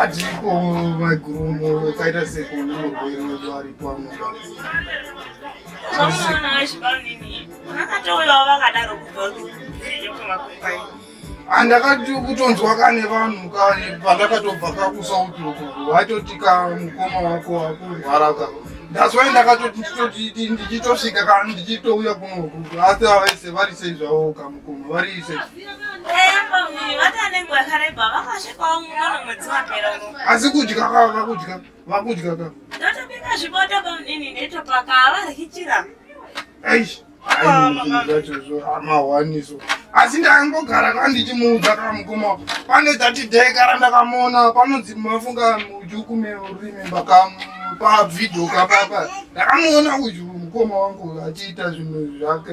Adiko maiguru kaita seko nemurwere wedu ari pano. Andakati kutonzwa kane vanhu kane pandakatobva kakusauti uko vatoti ka mukoma wako wakurwara ka that's why ndakatoti ndichitosvika kana ndichitouya kuno asi avaise vari sei zvavo kamukoma vari sei asi kudya kava vakudya vakudya ka ndotobika zviboto pamdini ndetopaka avarikichira aish amawaniso asi ndangogara ka ndichimuudza ka mukoma pane tati day kara ndakamuona panonzi mafunga mujukume urimemba ka pavhidho ka papa ndakamuona uyu mukoma wangu achiita zvinhu zvake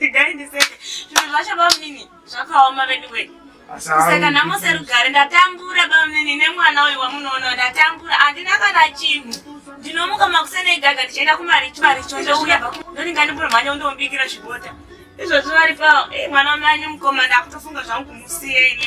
Regai ndiseke. Zvinhu zvacho bamnini zvakaoma veduwe. Kuseka nhamo serugare ndatambura bamnini nemwana uyu wamunoona ndatambura handina kana chinhu. Ndinomuka makuseni egaga ndichienda kumaricho maricho ndouya ndonenga ndimuromhanya undombikira zvibota. Izvozvo vari pawo. Eh mwana wamai mukoma ndakutofunga zvangu kumusiya ini.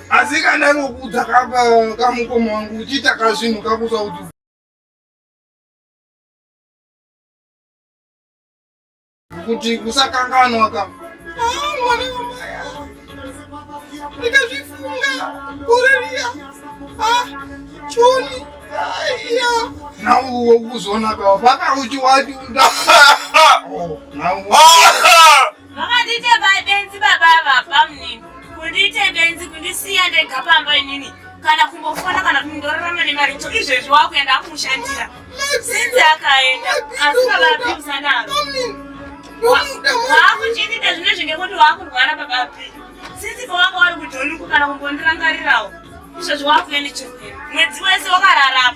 asi kana nokudza kamukoma wangu uchiita kazvinhu kakusa kuti kuti kusakanganwa ka mwana wamaya ndikazvifunga kurariya choni aiya nauwo kuzoona ka vaka uchiwati uda Vakandiita benzi baba ava bamni. Kundiita benzi kundisiya ndega pamba inini kana kumbofona kana kuti ndorarama nemari cho izvezvi wakuenda akumushandira. Sinzi akaenda asi baba apiusa naro. Waakuchiitita zvine zvinge kuti waakurwara baba api. Sinzi pawanga wari kujoni kana kumbondirangarirawo. Izvezvi wakuenda chirwere. Mwedzi wese wakararapa.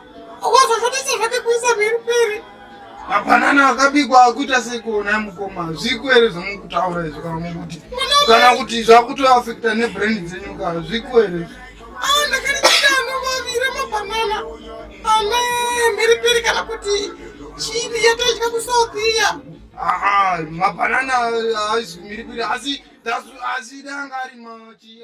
Ukazozvotisa zvake kuisa peri peri. Mapanana akabikwa akuita sekuona mukoma zviku ere zvamukutaura izvo kana mukuti kana kuti zvakuto affecta nebrand dzenyu ka zviku ere. Ah, ndakarichita anovavira mapanana ane mberi peri kana kuti chini yataidya kusouth iya. Ah, mapanana haizvimiri piri asi asi danga ari machi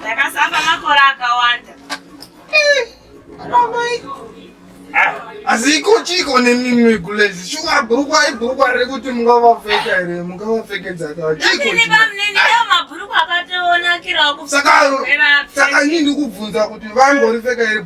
ndakasamba makore akawanda asi iko chiko nemimwe gulezi shuwa bhurukwa ibhurukwa riri kuti mungavapfeka here mungavapfekedza kachiosaka ini ndikubvunza kuti vangoripfeka here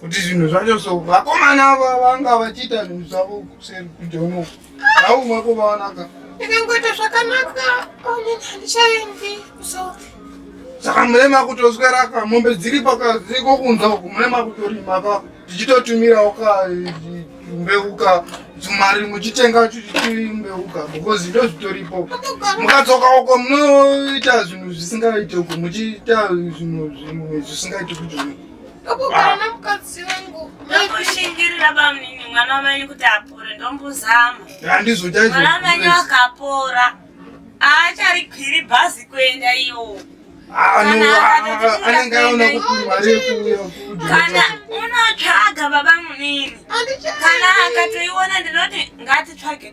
kuti zvinhu zvacho so vakomana ava vanga vachiita zvinhu zvavo kuseri kunze unoku aumwe kuvaonaka ikangoita zvakanaka onenhandichaendi so saka murema kutoswera ka mombe dziri pakaziko kunza uku murema kutorima ka tichitotumirawo ka mbeuka mari muchitenga mbeuka because ndo zvitoripo mukadzoka uko munoita zvinhu zvisingaite uku muchiita zvinhu zvimwe zvisingaite kuti Ndokugana mukadzi wangu. Ndokushingirira bamnini mwana wamenyu kuti apore ndombuzama. Handizvo chaizvo. Mwana wamenyu akapora. Aacharikwiri bhazi kuenda iyo. Ah, anenge aona kuti mari yekuuya. Kana unotsvaga baba munini. Kana akatoiona ndinoti ngatitsvage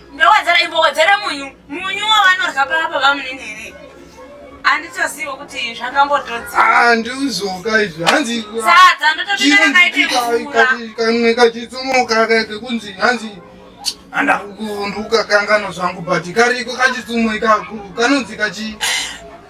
Ndowedzera imbowedzera munyu. Munyu wavanorya papa vamunini here? Anditozivo kuti zvakambotodzi. Ah, ndiuzoka izvi. Hanzi. Sadza ndototenga kaite kufura. Kamwe kachitsumoka kaite kunzi hanzi anda kuvunduka kangano zvangu but kariko kachitsumo ikako kanonzi kachi